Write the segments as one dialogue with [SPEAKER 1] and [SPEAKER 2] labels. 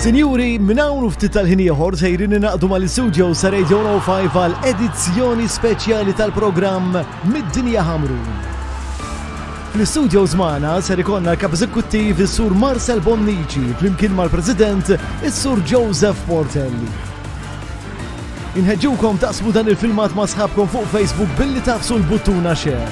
[SPEAKER 1] Sinjuri, minn hawn ftit tal-ħin ieħor sejrin inaqdu mal-istudio sa Radio 105 għal edizzjoni speċjali tal-programm Mid-Dinja Ħamru. Fl-istudio żmana ser ikonna l-kap eżekuttiv is-Sur Marcel Bonnici flimkien mal-President is-Sur Joseph Portelli. Inħeġġukom taqsmu dan il-filmat ma' sħabkom fuq Facebook billi tafsu l-buttuna xer.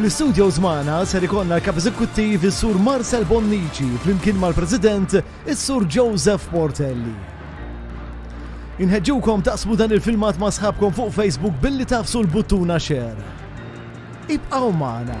[SPEAKER 1] Fl-istudios magħna ser ikollna l-Kap Eżekuttiv is-Sur Marcel Bonnici flimkien mal-President is-Sur Joseph Portelli. Inħeġġukom taqsmu dan il-filmat ma' sħabkom fuq Facebook billi tafsu l-buttuna share. Ibqgħu magħna!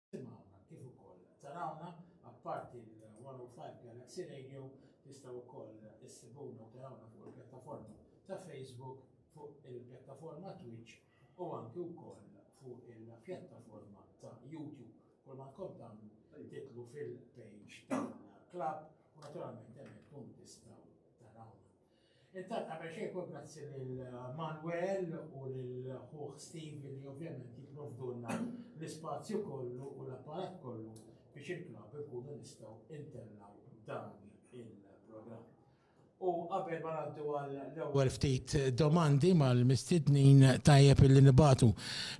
[SPEAKER 2] Tisimgħuna kif ukoll tarawna, apparti l-105 Galaxy Radio, tistgħu wkoll issibuna u tarawna fuq il-pjattaforma ta' Facebook, fuq il-pjattaforma Twitch u anki wkoll fuq il-pjattaforma ta' YouTube. Kull ma tkom tagħmlu titlu fil-page tal-klabb u naturalment hemmhekk tkunu tistgħu tarawna. Intant qabel xejn kull grazzi lil Manuel u lil ħuh Steve li ovvjament jipprovdulna l-ispazju kollu u l-apparat kollu biex il-klabb inkunu nistgħu ntellgħu dan il-programm. U qabel ma ngħaddu għall-ewwel ftit domandi mal-mistednin tajjeb illi nibagħtu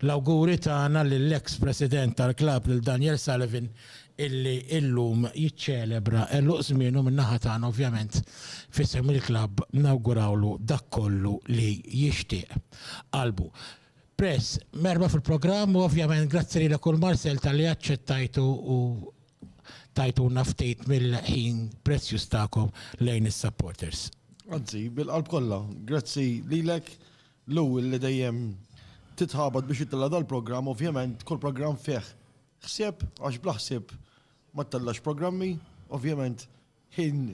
[SPEAKER 2] l-awguri tagħna lill-eks President tal-klabb lil Daniel Sullivan illi illum jiċċelebra għeluq żmienu min-naħa tagħna ovvjament f'isem il-klabb nawgurawlu dak kollu li jixtieq qalbu. Prez, merħba fil-programm u ovvjament grazzi lilek u l-Marcel talli aċċettajtu u tajtuna ftit mill-ħin prezzjuż tagħkom lejn is-supporters. Anzi,
[SPEAKER 3] bil-qalb kollha, grazzi lilek Lou illi dejjem titħabat biex ittella' dal-programm, ovvjament kull programm fih Ħsieb, għax bla ħsieb ma ttellax programmi, ovvjament ħin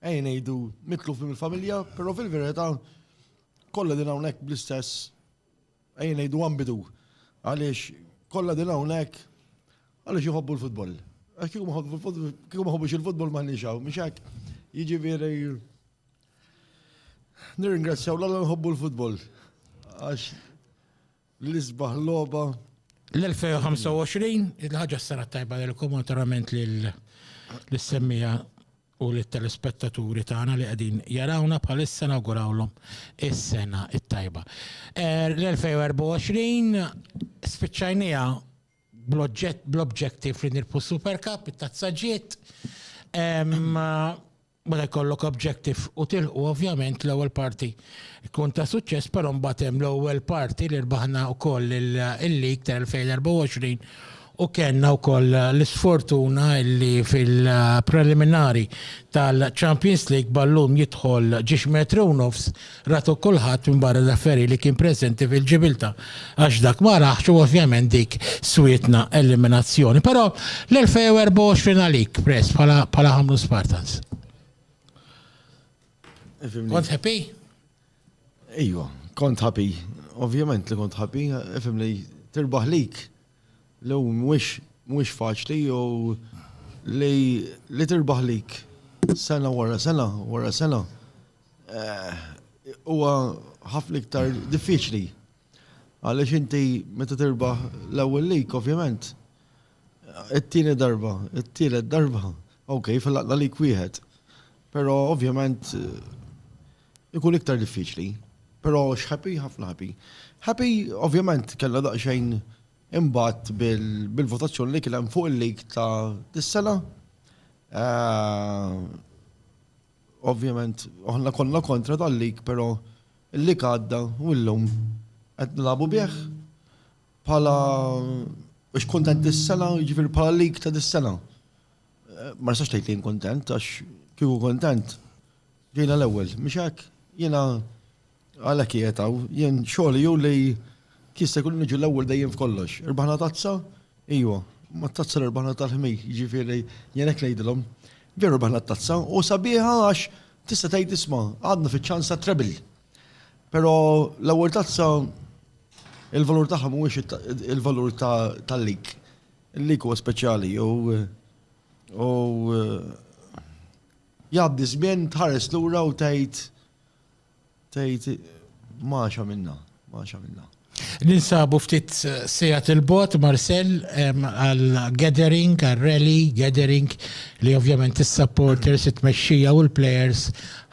[SPEAKER 3] ejn ngħidu mitluf minn il-familja, però fil-verità kollha din hawnhekk bl-istess ejn ngħidu ambidu. Għaliex kollha din hawnhekk għaliex iħobbu l-futbol. Għax kieku ma ħobbux il-futbol ma ħniex hawn, mhux hekk. Jiġifieri nirringrazzjaw l-alla nħobbu l-futbol. Għax L-isbaħ logħba. L-2025,
[SPEAKER 4] il-ħaġa s-sena tajba li l-komunitarament li l-semmija u li telespettaturi tagħna li qegħdin jarawna bħalissa nawgurawlhom is-sena it-tajba. Eh, L-2024 spiċċajnija bl-objective li nirpu Super Cup, it-tazzaġiet. Meta jkollok objective u tilħqu ovvjament l-ewwel parti tkun ta' suċċess, però mbagħad hemm l-ewwel parti li rbaħna wkoll il-lig tal-2024 u kellna wkoll l-isfortuna li fil-preliminari tal-Champions League ballun jidħol ġiex metru u nofs Ratu kulħadd minbarra Lafferri li kien preżenti fil-Ġibilta għax dak ma raħx u ovvjament dik swietna eliminazzjoni. Però l-2024 għalik press bħala ħamlu Spartans. Kont happy? Ejwa,
[SPEAKER 3] kont happy. Ovvjament li kont happy, ifhem li tirbaħ lik. Lew mhuwiex mhuwiex faċli jew li tirbaħ lik sena wara sena wara sena. Huwa ħafna iktar diffiċli. Għaliex inti meta tirbaħ l-ewwel lik, ovvjament, it-tieni darba, it-tielet darba, ok, fil-laqna lik wieħed. Però ovvjament ikun iktar diffiċli. Però x'ħappy, ħafna ħappy. Ħappy, ovvjament, kellha daqsxejn imbagħad bil-votazzjoni li kien hemm fuq il-lig ta' dis-sena. Ovvjament, aħna konna kontra dan lig però l-lig għadda u llum qed nilagħbu bih bħala biex kuntent dis-sena, jiġifieri bħala lig ta' dis-sena. Eh, ma nistax tgħid li kuntent għax kieku kuntent ġejna l-ewwel, mhix hekk? Jiena Għalhekk qiegħed hawn, jien xogħli hu li jista' jkun niġu l-ewwel dejjem f'kollox. Irbaħna tazza? Ijwa, ma tazza li rbaħna tal-ħmi, jiġifieri jien hekk ngħidilhom. Veru rbaħna t-tazza u sabiħa għax tista' tgħid isma' għadna fiċ-ċans tat-treble. Però l-ewwel tazza il-valur tagħha mhuwiex il-valur tal-lig. Il-lig huwa speċjali u jgħaddi żmien tħares lura u tgħid Tgħid, M'għax għamilna, m'għax għamilna. Ninsabu
[SPEAKER 4] ftit sigħat 'il bogħod, Marcel, għal gathering, għal rally, gathering li ovvjament is-supporters, it-tmexxija u l-plejers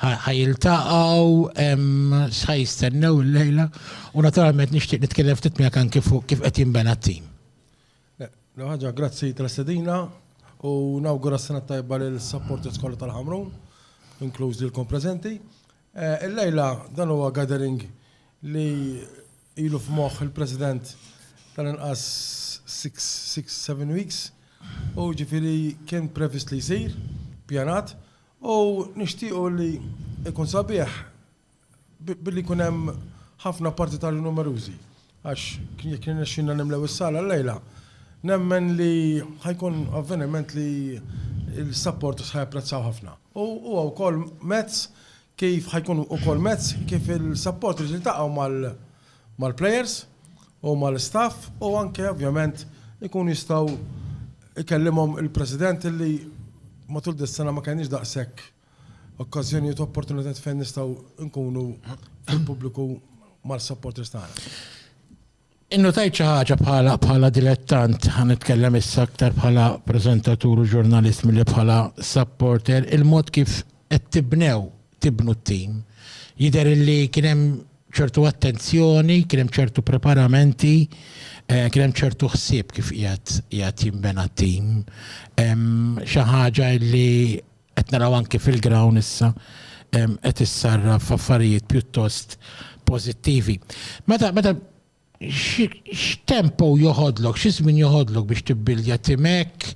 [SPEAKER 4] ħa jiltaqgħu, x'ħa jistennew illejla u naturalment nixtieq nitkellem ftit miegħek anke fuq kif qed jinbena t-tim. L-ewwel
[SPEAKER 5] ħaġa grazzi tal-istedina u nawgura s-sena t-tajba lill-supporters kollha tal-Ħamrun, inkluż lilkom preżenti. Illejla dan huwa gathering li ilu f'moħħ il-President tal-inqas six, six, seven weeks u ġifieri kien previst li jsir, pjanat u nixtiequ li jkun sabiħ billi jkun hemm ħafna partitarji numerużi, għax jekk jirnexxilna nimlew is-sala llejla, nemmen li ħa jkun avveniment li l-supporters ħa japprezzaw ħafna. U huwa wkoll mezz kif ħa jkun ukoll mezz kif il-supporters jiltaqgħu mal-players u mal-istaff u anke ovvjament ikunu jistgħu jkellimhom il-President li matul dis-sena ma kellniex daqshekk Okkażjonijiet u opportunitajiet fejn nistgħu nkunu fil-pubbliku mal-supporters tagħna.
[SPEAKER 4] Innotajt xi ħaġa bħala bħala dilettant, ħa nitkellem issa aktar bħala preżentatur u ġurnalist milli bħala supporter, il-mod kif qed tibnew tibnu t-tim. Jidher li kien hemm ċertu attenzjoni, kien hemm ċertu preparamenti, eh, kien hemm ċertu ħsieb kif qiegħed qiegħed jinbena t-tim. Xi ħaġa li Qed naraw anki fil-grawn issa qed issarraf affarijiet pjuttost pożittivi. Meta meta x'tempo joħodlok, xi żmien joħodlok biex tibbildja timek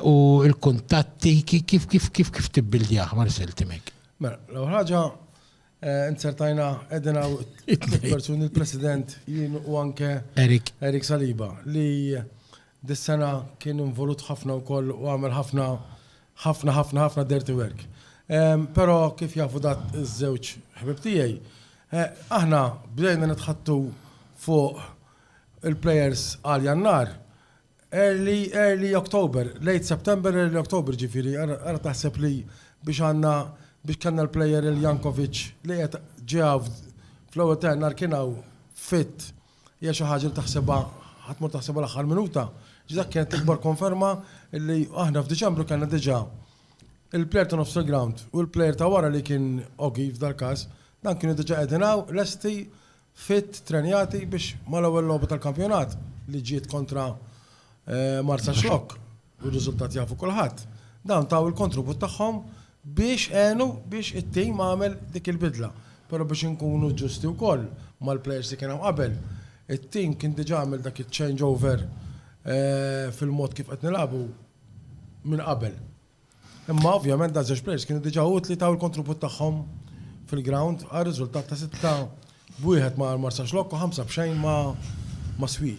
[SPEAKER 4] u l-kuntatti kif kif kif kif tibbildjah Marcel timek? Mela, l-ewwel ħaġa
[SPEAKER 5] Inzertajna qegħdin hawn tliet persuni l-President jien u anke Erik. Erik Saliba li dis-sena kien involut ħafna wkoll u għamel ħafna ħafna ħafna ħafna dirty work. Però kif jafu dat iż-żewġ ħbib tiegħi, aħna bdejna nitħattu fuq il-plejers għal Jannar Early, early October, late September, early October ġifiri, għara taħseb li biex għanna biex kanna l-player il-Jankovic li għet ġeaw fl-ewel tennar kienaw fit hija xi ħaġa li taħseba ħatmur taħseba l-aħħar minuta. Ġdak kienet l-ikbar konferma li aħna f'Diċembru kellna diġà il-player ta' nofs il-ground u l-player ta' wara li kien Ogi f'dal-każ dan kienu diġà qegħdin hawn lesti fit trenjati biex mal-ewwel logħba tal-kampjonat li ġiet kontra Marsaxlokk, u r-riżultat jafu kulħadd, dawn taw il-kontribut tagħhom biex għenu biex it-tim għamel dik il-bidla. Però biex inkunu ġusti wkoll mal-plejers li kien hemm qabel, it-tim kien diġà għamel dak iċ-change over fil-mod kif qed nilagħbu minn qabel. Imma ovvjament da żewġ players kienu diġà utli taw il-kontribut tagħhom fil-ground għal riżultat ta' sitta b'wieħed ma' Marsax Lokko ħamsa b'xejn ma' ma' Swi.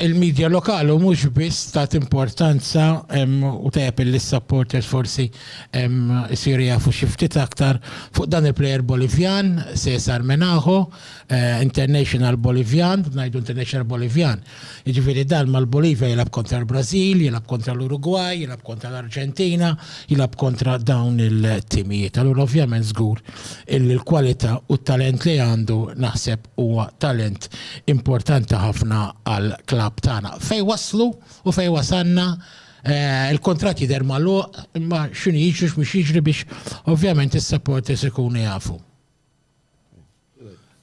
[SPEAKER 4] Il-medja lokali u mhux biss ta' importanza u tajjeb li s-supporters forsi jsiru jafu xi ftit aktar fuq dan il-player Bolivjan, Cesar Menaho, international Bolivjan, ngħidu international Bolivjan, Jiġifieri dan mal-Bolivja jilgħab kontra l-Brażil, jilgħab kontra l-Urugwaj, jilgħab kontra l-Arġentina, jilgħab kontra dawn il-timijiet. Allura ovvjament żgur illi l-kwalità u t-talent li għandu naħseb huwa talent importanti ħafna għall-klabb tagħna. Fejn waslu u fejn wasalna, il-kuntratt jidher magħluq imma x'inhu jiġri u x'mhux jiġri biex ovvjament is-supporters ikunu jafu.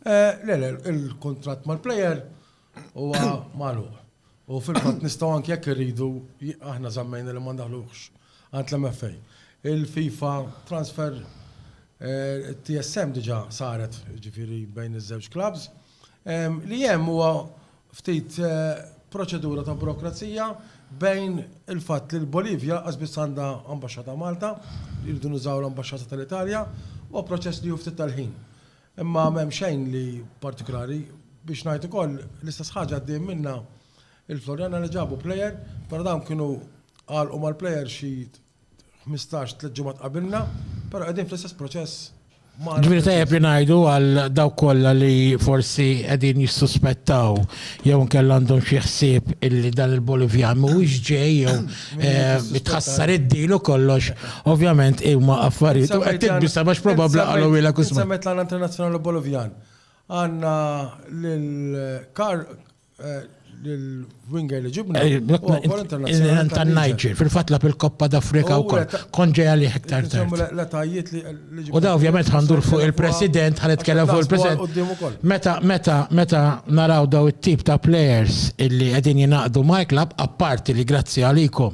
[SPEAKER 5] Le, le, il-kuntratt mal-plejer huwa magħluq. U fil-fatt nistgħu anke jekk irridu aħna żammejna li ma ndaħluhx għand l-MFA. Il-FIFA transfer TSM diġà saret ġifieri bejn iż-żewġ clubs. Li hemm huwa ftit proċedura ta' burokrazija bejn il-fatt li l-Bolivja lanqas biss għandha ambaxxata Malta, irridu nużaw l-ambaxxata tal-Italja, huwa proċess li jieħu ftit tal-ħin. Imma m'hemm xejn li partikulari. Biex ngħid ukoll l-istess ħaġa għaddejjin minnha il-Floriana li ġabu plejer, però dawn kienu għalqu mal-plejer xi 15 tliet ġimgħat qabilna, però qegħdin fl-istess proċess Ġviri tajab
[SPEAKER 4] li najdu għal daw kolla li forsi għedin jissuspettaw jew nkell għandhom xi ħsieb illi dan il-Bolivjan mhuwiex ġej jew eh, tħassar id-dilu kollox, ovvjament huma affarijiet u qed tibisa bax probabbli qalu wila kusma. Semmet l-għana internazzjonali
[SPEAKER 5] Bolivjan. Għanna l-kar l-winger li ġibna. Tan-Niger,
[SPEAKER 4] fil-fat la fil-Koppa d'Afrika u kol, konġeja li iktar tard.
[SPEAKER 5] U da ovvjament
[SPEAKER 4] għandur fuq il-President, għan itkellem fuq il-President. Meta, meta, meta naraw daw it-tip ta' players illi għedin jinaqdu ma' klab, apparti li grazzi għalikom,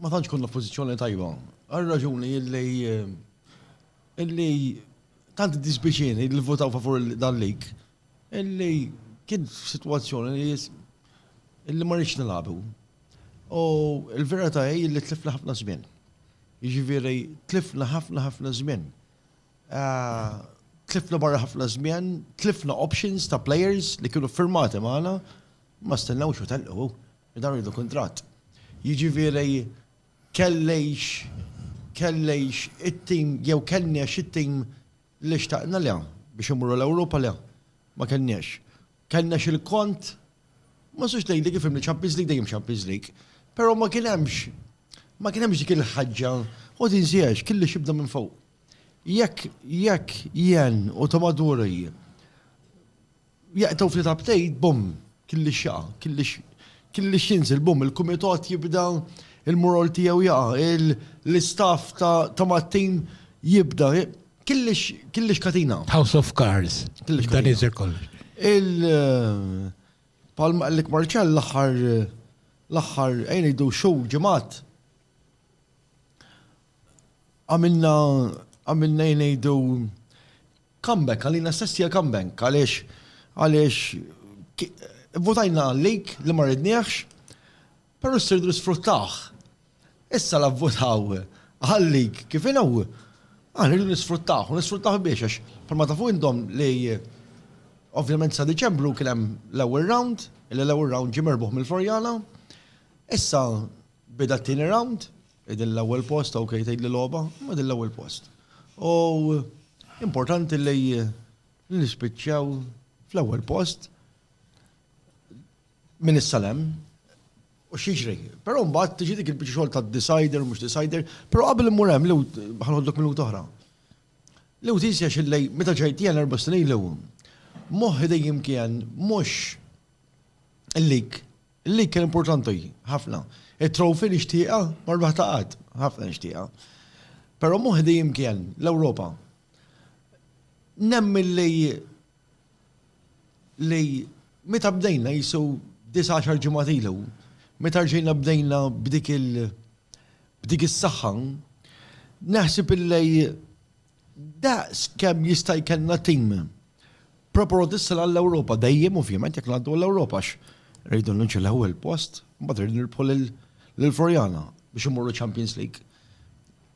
[SPEAKER 3] Ma tantx konna f'pożizzjoni tajba. Għal raġuni illi illi tant dispiċini li votaw favur dan lig illi kien f'sitwazzjoni li illi ma rridx nilagħbu. U l-verità hi li tlifna ħafna żmien. Jiġifieri tlifna ħafna ħafna żmien. Ah, tlifna barra ħafna żmien, tlifna options ta' players li kienu firmati magħna, ma stennewx u telqu. Dawn iridu kuntratt. Jiġifieri kellix kellix it-tim jew kellniex it-tim li xtaqna? Le. Biex immorru l-Ewropa? Le. Ma kellniex. Kellnex il-kont, ma nistax ngħidlek ifhimni Champions League dejjem Champions League, però ma kien hemmx ma kien hemmx dik il-ħaġġa u tinsiex kellix jibda minn fuq. Jekk jekk jien u Tomaduri Jaqtgħu ftit update, bumm, killix jaqa', killix, killix jinżel, bumm, il-kumitat jibda il-mural tiegħu jaqa', l-istaff ta' mat-tim jibda, killix, killix katina. House of Cards,
[SPEAKER 4] killix dan iżel kollox. Il
[SPEAKER 3] palma qallek Marċell l-aħħar l-aħħar ejn ngħidu xhur ġimgħat għamilna għamilna jnejdu Comeback, għalina stess hija comeback, għaliex għaliex votajna għalik li ma ridniex, però s-sirdu nisfruttaħ. Issa la votaw għalik kif inhu, għan rridu nisfruttaħ, u nisfruttaħ biex għax palma tafu indom li ovvjament sa' Deċembru kien hemm l-ewwel round, il-ewwel round ġie merbuħ mill-Forjana, issa beda t-tieni round, Din l-ewwel post, ok, tgħidli logħba, imma din l-ewwel post. U importanti li nispiċċaw fl-ewwel post minn is-salem u xieġri. Però mbagħad tiġi dik il-biċċa xogħol ta' decider mhux decider, però qabel immur hemm li ħanħoddok minuta oħra. Li u tisja xillej meta ġejt jien erba' snin li moħħi dejjem kien mhux lik Il-lig kien importanti ħafna. It-trophy nixtieqha ma rbaħta qatt, ħafna nixtieqha. Però moħħi dejjem kien l-Ewropa. Nemmen li li meta bdejna jisu 19 ġimgħat ilu, meta rġejna bdejna b'dik il- b'dik is-saħħa, naħseb illi Daqs kemm jista' jkellna tim proprotista għall-Ewropa dejjem ovvjament jekk ngħaddu għall-Ewropa għax rridu nlinċu l-ewwel post, mbagħad rridu nirbħu lil Floriana biex immorru Champions League.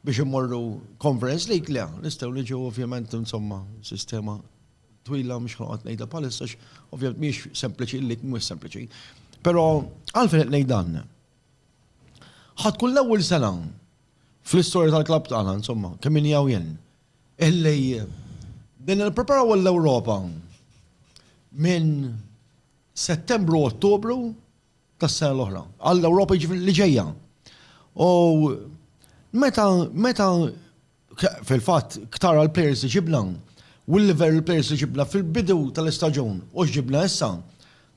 [SPEAKER 3] Biex immorru Conference League le, nistgħu niġu ovvjament insomma sistema twila mhux ħanqod ngħidha bħalissa ovvjament mhix sempliċi li mhux sempliċi. Però għalfejn qed ngħid dan. Ħadd kull ewwel sena Fl-istorja tal-klabb tagħna, insomma, kemm inni hawn jien, illi bdejna nippreparaw għall-Ewropa minn Settembru Ottubru tas-sena l-oħra, għall-Ewropa jiġifieri li ġejja. U meta meta fil-fatt ktara l-plejers li ġibna u l-livell l-plejers li ġibna fil-bidu tal-istaġun u x'ġibna issa,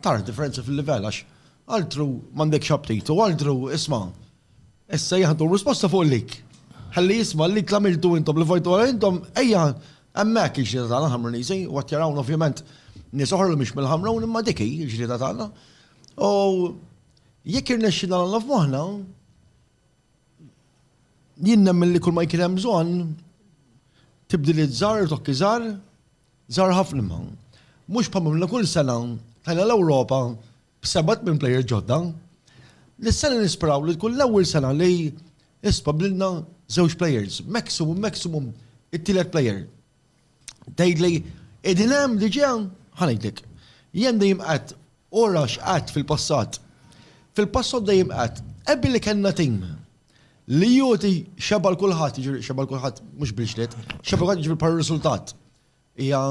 [SPEAKER 3] tara differenza fil-livell għax altru m'għandekx aptit u altru isma' Issa jieħdu r-risposta fuq l-lik. Ħalli jisma' l-lik l-għamiltu intom, li fajtu għal intom, ejja, hemmhekk il-ġlieda tagħna Ħamruniżi, u qed jarawna ovvjament nies oħra li mhux mill-Ħamrun imma dik hi l-ġlieda tagħna. U jekk irnexxina l-Alla f'moħħna, jien nemmen li kull ma jkien hemm bżonn tibdil iż-żar, tokki żar, żar ħafna ma. Mhux bħal kull sena tajna l-Ewropa b'seba' tmien players ġodda, li s-sena nisperaw li tkun l-ewwel sena li isbab lilna żewġ players, maximum maximum it-tielet player. Tgħidli qegħdin hemm diġà ħa ngħidlek. Jien dejjem qed u rax qed fil-passat. Fil-passat dejjem qed ebli kellna tim li joti xeba' l-kulħadd, jiġri xeba' l-kulħadd mhux bil-ġlied, xeba' l-kulħadd jiġri bħal riżultat. Hija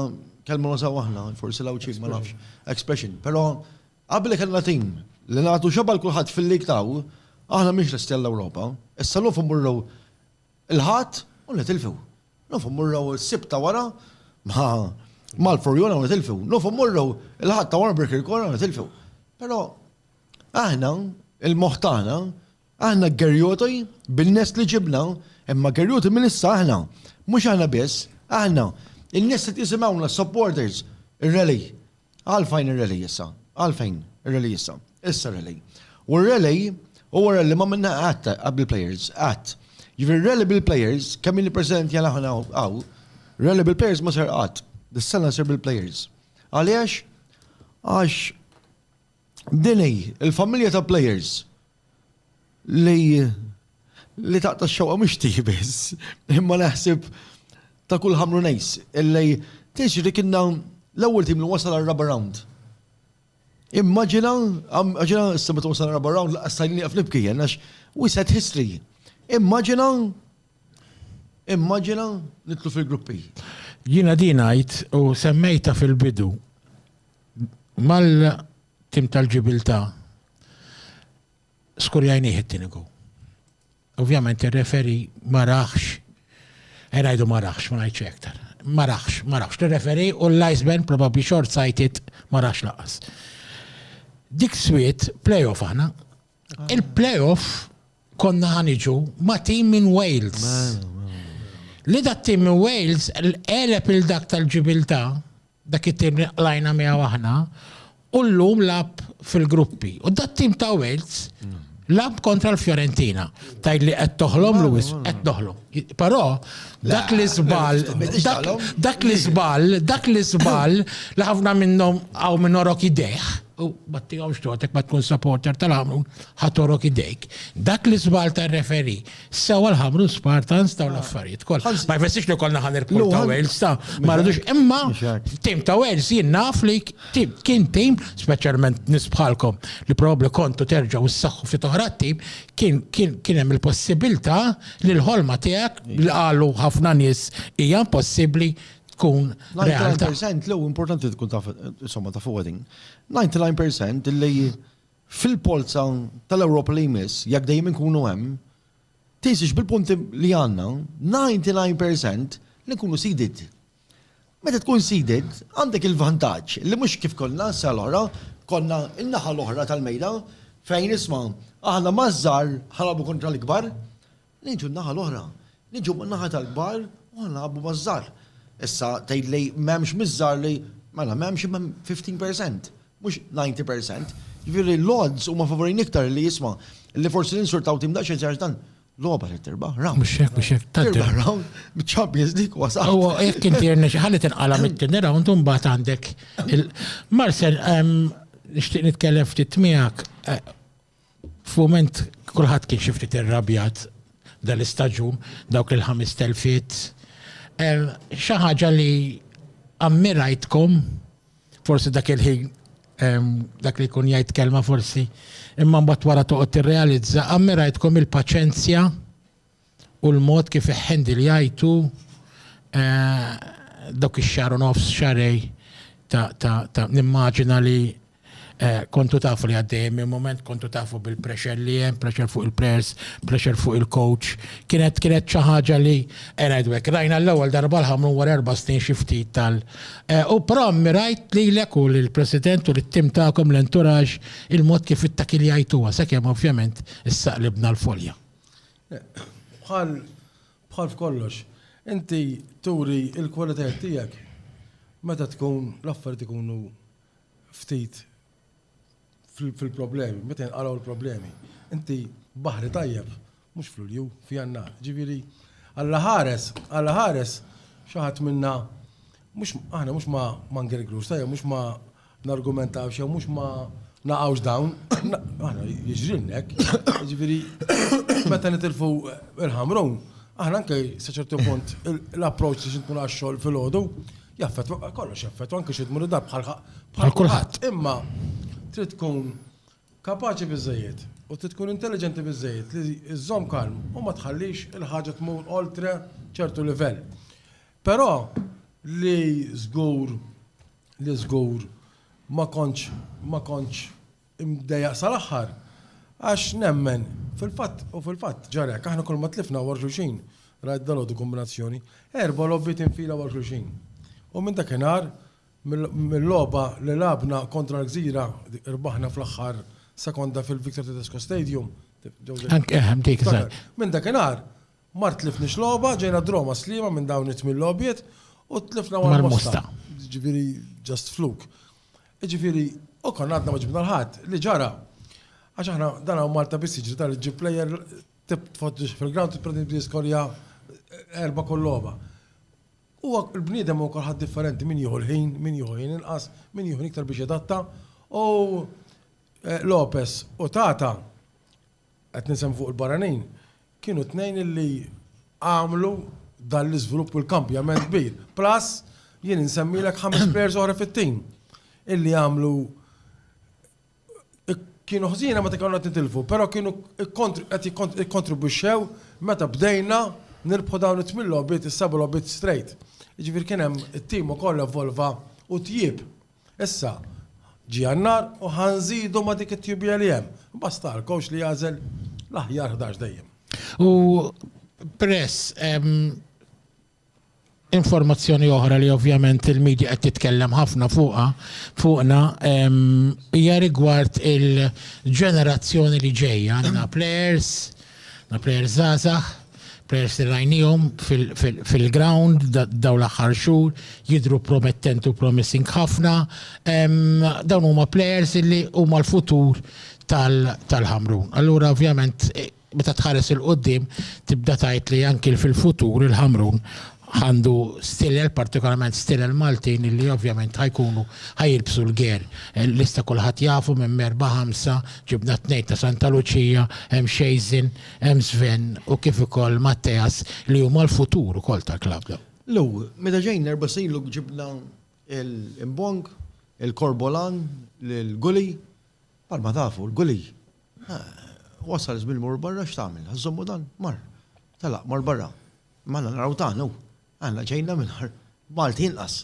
[SPEAKER 3] kelma nużaw aħna, forsi l-Għawdxin ma nafx, expression. Però qabel kellna tim li nagħtu xebgħa l-kulħadd fil-lig taw, aħna mhix lesti għall-Ewropa. Issa l-lum fuq mmorru l-Ħadd u nitilfu. Lum fuq mmorru s-Sibt ta' wara ma' Malfurjuna u nitilfu. Lum fuq mmorru l-Ħadd ta' wara Birkirkora u nitilfu. Però aħna il-moħħ tagħna Aħna Gerjoti bin-nies li ġibna, imma Gerjoti minn issa aħna. Mhux aħna biss, aħna. In-nies qed jisimgħuna, s-supporters. Ir-rally. Għalfejn ir-rally issa? Għalfejn ir-rally issa? Issa r-rally. U r-rally huwa rally ma minna qatt bil-plejers, qatt. Jiġifieri r-rally bil-plejers, kemm ilni preżenti għal aħna hawn, rally bil-plejers ma sar qatt. Dis-sena jsir bil-plejers. Għaliex? Għax din hi l-familja ta' plejers li li taqta' x-xewqa mhux tiegħi biss, imma naħseb ta' kull Ħamrunejs illi tiġri kienna l-ewwel tim li wasal għar-raba' round. Immaġina, immaġina issa meta wasal għar-raba' round laqas stajni nieqaf nibki jien għax we set history. Immaġina immaġina nitlu fil-gruppi. Jiena din
[SPEAKER 4] ngħid u semmejta fil-bidu mal Tim tal-ġibiltà, skurjajnih it-tieni goal. Ovvjament ir-referi ma raħx, eh, ngħidu ma raħx, ma ngħidx iktar. Ma raħx, ma raħx. Ir-referi u l-Iceman probabbli short sighted ma raħx laqas. Dik swiet playoff aħna. Il-playoff konna ħaniġu ma' tim minn Wales. Li dat tim minn Wales elep il-dak tal-ġibilta Dak it-tim li qlajna miegħu aħna u llum lagħab fil-gruppi. U dat-tim ta' Wales lagħab kontra l-Fiorentina. Tgħid li qed toħlom Luis, qed noħlom. Però dak li żball, dak li żball, dak li żball li ħafna minnhom hawn minn orok idejh, u ma tihomx totek ma tkun supporter tal-għamrun, ħadd orok idejk. Dak li żball tar-referi Sewa l-ħamru Spartans daw l-affarijiet kollha. Ma jfessix li konna ħan irbħu ta' Wales ta' ma rridux imma tim ta' Wales jien naf li kien tim speċjalment nisbħalkom li probabbli kontu terġgħu ssaħħu fit oħra tim kien kien hemm il-possibilità li l-ħolma tiegħek li qalu ħafna nies hija impossibbli tkun realtà. 99% l importanti
[SPEAKER 3] tkun taf insomma ta' fuq 99% li fil-polza tal-Ewropa li jmiss, jekk dejjem inkunu hemm, tinsiex bil-punti li għandna, 99 percent, li nkunu seeded. Meta tkun seeded, għandek il-vantaġġ li mhux kif konna s-sena l-oħra, konna n-naħa l-oħra tal-mejda fejn isma' aħna maż-żgħar ħa nilgħabu kontra l-ikbar, Niġu n-naħa l-oħra. Niġu man-naħa tal-kbar u ħa nilagħbu maż-żgħar. Issa tgħid li m'hemmx miż-żgħar li, mela m'hemmx imma hemm fifteen percent, mhux ninety percent. Jiġifieri l-odds huma favorejn iktar li isma', li forsi ninsurtaw tim daqsxejn żgħar għax dan logħba trid tirbaħ round. Mhux hekk, mhux hekk. Tirbaħ
[SPEAKER 4] round,
[SPEAKER 3] miċ-Champions League huwa saqaf. Huwa jekk inti irnexxi
[SPEAKER 4] ħalli tinqala' mit-tieni round u mbagħad għandek il- Marcel, ehm, nixtieq nitkellem ftit miegħek. Eh, F'mument kulħadd kien xi ftit irrabjat dan l-istaġun, dawk il-ħames telfiet. Xi ħaġa li ammirajtkom, forsi dak il-ħin dak li jkun jgħid kelma forsi, imma mbagħad wara toqgħod tirrealizza, ammirajtkom il-paċenzja u l-mod kif iħħendiljajtu dawk ix-xahar u nofs, xahrejn ta' nimmaġina li kontu tafu li għaddejjin minn mument, kontu tafu bil-pressure li hemm, pressure fuq il-players, pressure fuq il-coach. Kienet kienet xi ħaġa li qed ngħidu hekk, rajna l-ewwel darba l-Ħamrun wara erba' snin xi ftit tal u però ammirajt lilek u lill-President u lit-tim tagħkom, l-entourage, il-mod kif ittakiljajtuha sakemm ovvjament issaqlibna l-folja.
[SPEAKER 5] Bħal bħal f'kollox, inti turi l-kwalitajiet tiegħek meta tkun l-affarijiet ikunu ftit fil-problemi, meta jinqalgħu l-problemi. Inti baħri tajjeb, mhux f'Lulju, f'Jannar. Ġifieri, Alla ħares, Alla ħares xi ħadd minna mhux aħna mhux ma ngergrux, tajjeb mhux ma nargumentaw xew mhux ma naqgħux dawn, aħna jiġrilna hekk. Jiġifieri meta nitilfu il-ħamrun, aħna anke sa ċertu punt l-approċċ li xi tkun għax-xogħol filgħodu jaffettwa kollox jaffettwa anke xi tmur id-dar bħal bħal kulħadd. Imma trid tkun kapaċi biżejjed u trid tkun intelliġenti biżejjed li żżomm kalm u ma tħallix il-ħaġa tmur oltre ċertu livell. Però li żgur li żgur ma kontx ma kontx imdejjaq sal-aħħar għax nemmen fil-fatt u fil-fatt ġara hekk aħna kulma tlifna wara xulxin rajt dalgħodu kombinazzjoni erba' logħbiet infila wara xulxin. U minn dakinhar mill-logħba li lagħabna kontra l-Gżira rbaħna fl-aħħar sekonda fil-Victor Tedesco Stadium, Anke hemm dik żgħar. Minn dakinhar Ma tlifniex logħba, ġejna draw ma' Sliema minn dawn it-tmien logħbiet u tlifna mal-Mosta. Jiġifieri just fluke. Jiġifieri u konna għadna ma ġibna l-ħadd. Li ġara, għax aħna dan hawn Malta biss jiġri dan li ġġib plejer tpoġġih fil-ground u tibda tiskorja erba' kull logħba. Huwa l-bniedem hu kulħadd differenti min jieħu l-ħin, min jieħu ħin inqas, min jieħu ħin iktar biex jadatta u Lopez u Tata qed nisemmi fuq il-barranin, kienu t-tnejn illi għamlu dan l-iżvilupp u l-kambjament kbir. Plus, jien insemmilek ħames players oħra fit-tim illi għamlu kienu ħżina meta kienu qed nitilfu, però kienu qed jikkontribwixxew meta bdejna nirbħu dawn it-tmien logħbiet, is-seba' logħbiet straight. Jiġifieri kien hemm it-tim ukoll evolva u tjieb. Issa, ġie Jannar u ħa nżidu ma' dik it-tjubija li hemm. Basta għal coach li jagħżel l-aħjar ħdax dejjem. U
[SPEAKER 4] press informazzjoni oħra li ovvjament il-medja qed titkellem ħafna fuqha fuqna hija rigward il-ġenerazzjoni li ġejja għandna players Na plejer zazax, plejers li rajnihom fil-ground daw l-aħħar xhur jidhru promettenti u promising ħafna. Dawn huma plejers li huma l-futur tal-Ħamrun. Allura ovvjament meta tħares il-qudiem tibda tgħid li anki fil-futur il-Ħamrun għandu stilel, partikolarment stilel Maltin, illi ovvjament ħajkunu ħajilbsu l-ger. Lista kulħadd jafu minn merba ħamsa ġibna tnejn ta' Santa Luċija, hemm Xejżin, hemm Sven u kif ukoll Matteas li huma l-futur ukoll tal-klabb. Lew, meta
[SPEAKER 3] ġejna erba' snin ilu ġibna l-Imbong, il-Korbolan, l-Gully, bħalma tafu l-Gully. Wasal żmien imur barra x'tagħmel? Ħa żommu dan? Mar. Telaq, mar barra. Ma għandna naraw dan hu. Aħna ġejna minn ħar Malti inqas.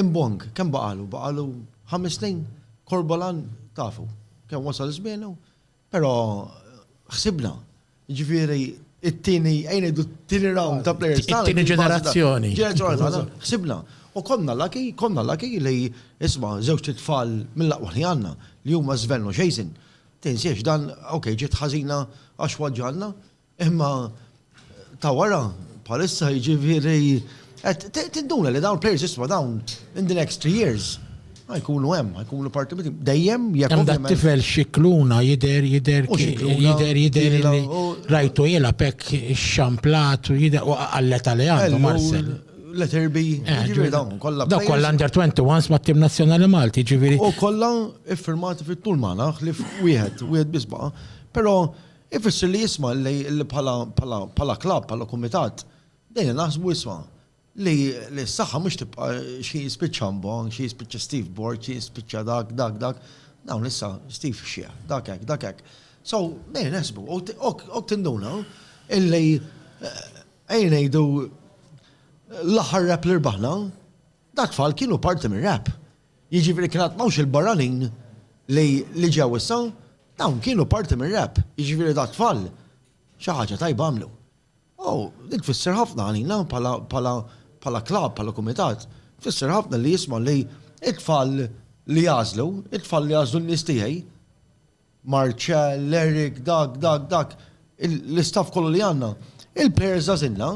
[SPEAKER 3] Imbong, kemm baqalu? Baqalu ħames snin? Korbolan tafu kemm wasal żmienu? Però ħsibna. Ġifieri it-tieni ejn ngħidu t-tieni round ta' players. It-tieni ġenerazzjoni.
[SPEAKER 4] Ħsibna.
[SPEAKER 3] U konna laki, konna laki li isma' żewġ tfal mill-aqwa li għandna li huma Sven u Jason. Tinsiex dan, okej, ġiet ħażina għax waġġgħalna, Imma ta' wara, bħalissa jiġifieri qed tinduna li dawn players isma' dawn in the next three years ħa jkunu hemm, ħa jkunu parti mit dejjem jekk. Hemm da tifel Scicluna
[SPEAKER 4] jidher jidher jidher jidher li rajtu jilgħab hekk ixxamplat u jidher u qallet għalih għandu Marcel. Let her be.
[SPEAKER 3] Jiġifieri dawn kollha. Dawn kollha
[SPEAKER 4] under 21 mat-tim nazzjonali Malti, jiġifieri. U kollha
[SPEAKER 3] iffirmati fit-tul magħna ħlief wieħed, wieħed biss baqa'. Però Ifisser li isma' li bħala bħala bħala klabb, bħala kumitat, bdejna naħsbu isma' li li s-saħħa mhux tibqa' xi jispiċċa Ambon, xi jispiċċa Steve Borg, xi jispiċċa dak, dak, dak. Dawn issa Steve ix-xiħ, dak hekk, dak hekk. So, bdejna neħsbu u hekk tinduna illi ejja ngħidu l-aħħar rap li rbaħna, dat-tfal kienu parti mir-rap. Jiġifieri kien għad m'hawnx il-barranin li li ġew issa, dawn kienu parti mir-rap, jiġifieri dat-tfal xi ħaġa tajba għamlu. U din tfisser ħafna għalina bħala bħala bħala klabb, bħala kumitat, tfisser ħafna li jisma' li t-tfal li għażlu, it-tfal li għażlu n-nies tiegħi, Marcell, Eric, dak, dak, dak, l-istaff kollu li għandna, il-players żagħżilna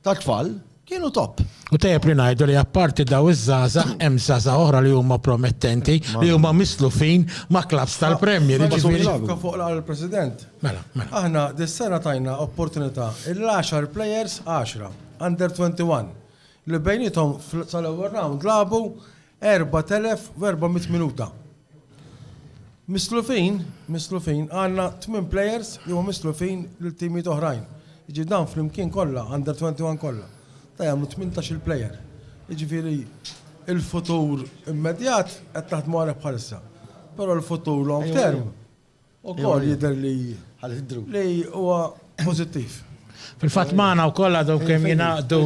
[SPEAKER 3] tat-tfal kienu top. U tajjeb li ngħidu
[SPEAKER 4] li apparti dawn iż-żgħażagħ hemm żgħażagħ oħra li huma promettenti li huma mislufin ma' klabbs tal-Premier. Meta tkun xibka fuq l-Għala
[SPEAKER 5] l-President. Mela, mela. Aħna
[SPEAKER 4] dis-sena
[SPEAKER 5] tajna opportunità lil għaxar players, għaxra, under 21, li bejniethom sal-ewwel round lagħbu 4,400 minuta. Mislufin, mislufin, għandna tmien plejers li huma mislufin lil timijiet oħrajn. Jiġifieri dawn flimkien kollha, Under 21 kollha, dawn jagħmlu tmintax-il plejer. Jiġifieri l-futur immedjat qed naħdmu għalih bħalissa. Però l-futur long term Ukoll jidher li li huwa pożittiv. Fil-fatt
[SPEAKER 4] magħna wkoll għadhom kemm jingħaqdu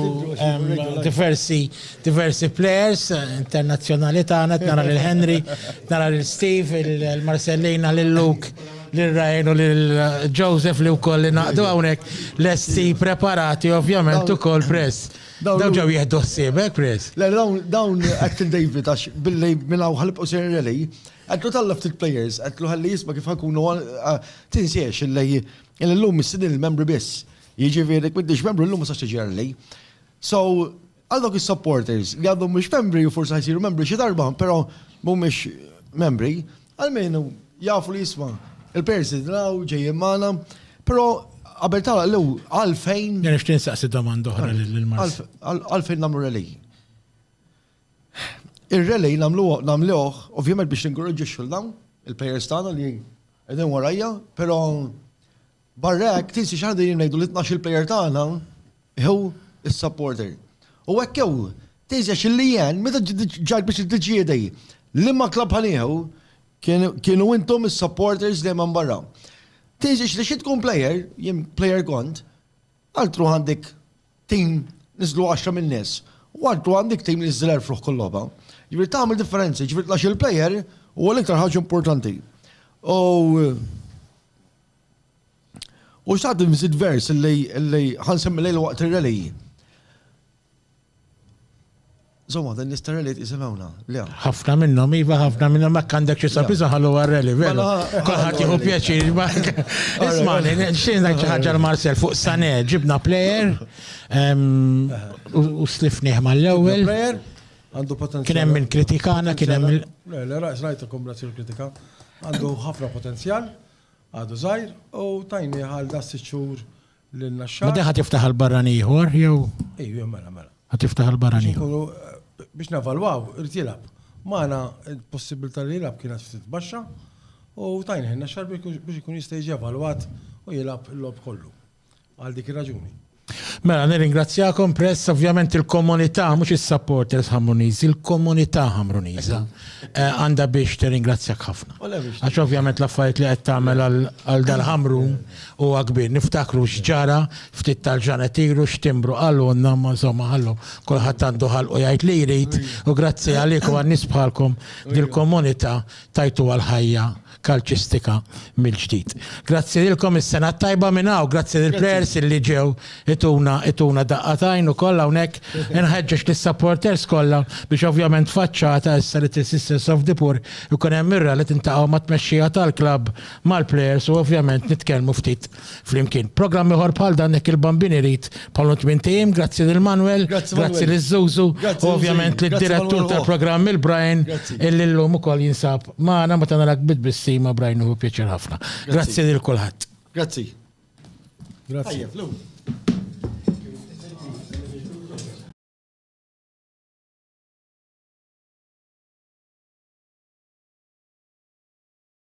[SPEAKER 4] diversi diversi players internazzjonali tagħna qed nara lil Henry, nara lil Steve, il-Marsellina, lil Luke, lil Ryan u lil Joseph li wkoll ingħaqdu hawnhekk lesti preparati ovvjament ukoll Press. Dawn ġew jieħdu ħsiebek Press? Le dawn
[SPEAKER 3] Acton David għax billi minn hawn ħa nibqgħu sejrin Rally Għidlu talla' ftit plejers, għidlu ħalli jisma' kif ħa nkunu Tinsiex illi illum mistiednin il-membri biss. Jiġifieri jekk m'intix membru llum ma tistax tiġi early. So, għal dawk is-supporters li għadhom mhux membri u forsi ħa jsiru membri xi darba, però mhumiex membri, almenu jafu li jisma' il-plejers li nilgħu ġejjin magħna, però qabel tagħlaq l-lew għalfejn. Jien nixtieq insaqsi
[SPEAKER 4] domanda oħra lil Marcel. Għalfejn nagħmlu
[SPEAKER 3] rally? Ir-rally nagħmluh ovvjament biex ninkoraġġixxu 'l dawn il-plejers tagħna li qegħdin warajja, però barra hekk tinsi xi ħaġa li ngħidu li t-tnax-il plejer tagħna hu s-supporter. U hekk hu, tinsi għax il-lien meta ġejt biex tiddeċiedi liema klabb ħa nieħu kienu intom is-supporters dejjem hemm barra. Tinsi xi tkun plejer, jien plejer kont, għal tru għandek Tim, niżlu għaxra minn nies. U għalhekk għandek tim li niżżel erfruħ kull logħba. Jiġifieri tagħmel differenza, jiġifieri tlax il-plejer huwa l-iktar ħaġa importanti. U U xtaqt nżid vers li ħansemmi lejl waqt ir-rally. Zomma, dan jista' rally jitqisem hawn, le? Ħafna minnhom,
[SPEAKER 4] iva, ħafna minnhom hekk għandek xi sabiża ħalluha rally, veru. Kulħadd jieħu pjaċir. Ismani, xi ngħid xi ħaġa l-Marcel fuq Sané, ġibna plejer u slifnieh mal-ewwel. Għandu potenzjal. Kien
[SPEAKER 5] hemm
[SPEAKER 4] kritikana,
[SPEAKER 5] kien hemm. Le,
[SPEAKER 4] le, rajt,
[SPEAKER 5] rajt
[SPEAKER 4] il-kombinazzjoni
[SPEAKER 5] kritika.
[SPEAKER 4] Għandu
[SPEAKER 5] ħafna potenzjal, għadu żgħir u tajni għal da sitt xhur Lin-naxxar. Din ħa tiftaħ għal
[SPEAKER 4] barran ieħor jew? Ejju, mela, mela.
[SPEAKER 5] Ħa tiftaħ għal barran
[SPEAKER 4] ieħor. Biex
[SPEAKER 5] navalwaw, irid jilgħab. Magħna il-possibilità li jilgħab kienet ftit baxxa u tajna ħin naxxar biex ikun jista' jiġi evalwat u jilgħab il-lob kollu. Għal dik ir-raġuni. Mela,
[SPEAKER 4] nirringrazzjakom press, ovvjament il-komunità, mhux is-supporters Ħamruniżi, il-komunità Ħamruniża eh, għandha biex tirringrazzjak ħafna. Għax ovvjament l-affarijiet li qed tagħmel għal dal-Ħamrun Huwa kbir, niftakru x'ġara ftit tal-ġranet ilu x'timbru qalulna imma insomma ħallu kulħadd għandu ħalqu jgħid li jrid u grazzi għalik u għal nies bħalkom dil-komunità tajtuha l-ħajja kalċistika mill-ġdid. Grazzi lilkom is-sena t-tajba minn hawn, grazzi lill-plejers illi ġew ituna ituna daqqa t'għajn ukoll hawnhekk. Inħeġġeġ lis-supporters kollha biex ovvjament faċċata issa li Three Sisters of the Poor ikun hemm ir-rally tintaqgħu mat-tmexxija tal-klabb mal-plejers u ovvjament nitkellmu ftit flimkien. Programm ieħor bħal dan hekk il-Bambin irid bħalhom tmien tiem, grazzi lil Manwel, grazzi lil Zuzu, u ovvjament lid-direttur tal-programm il-Brian illi llum ukoll jinsab magħna meta narak bit-tbissima Brian nieħu pjaċir ħafna. Grazzi lil kulħadd.
[SPEAKER 5] Grazzi.
[SPEAKER 4] Grazzi.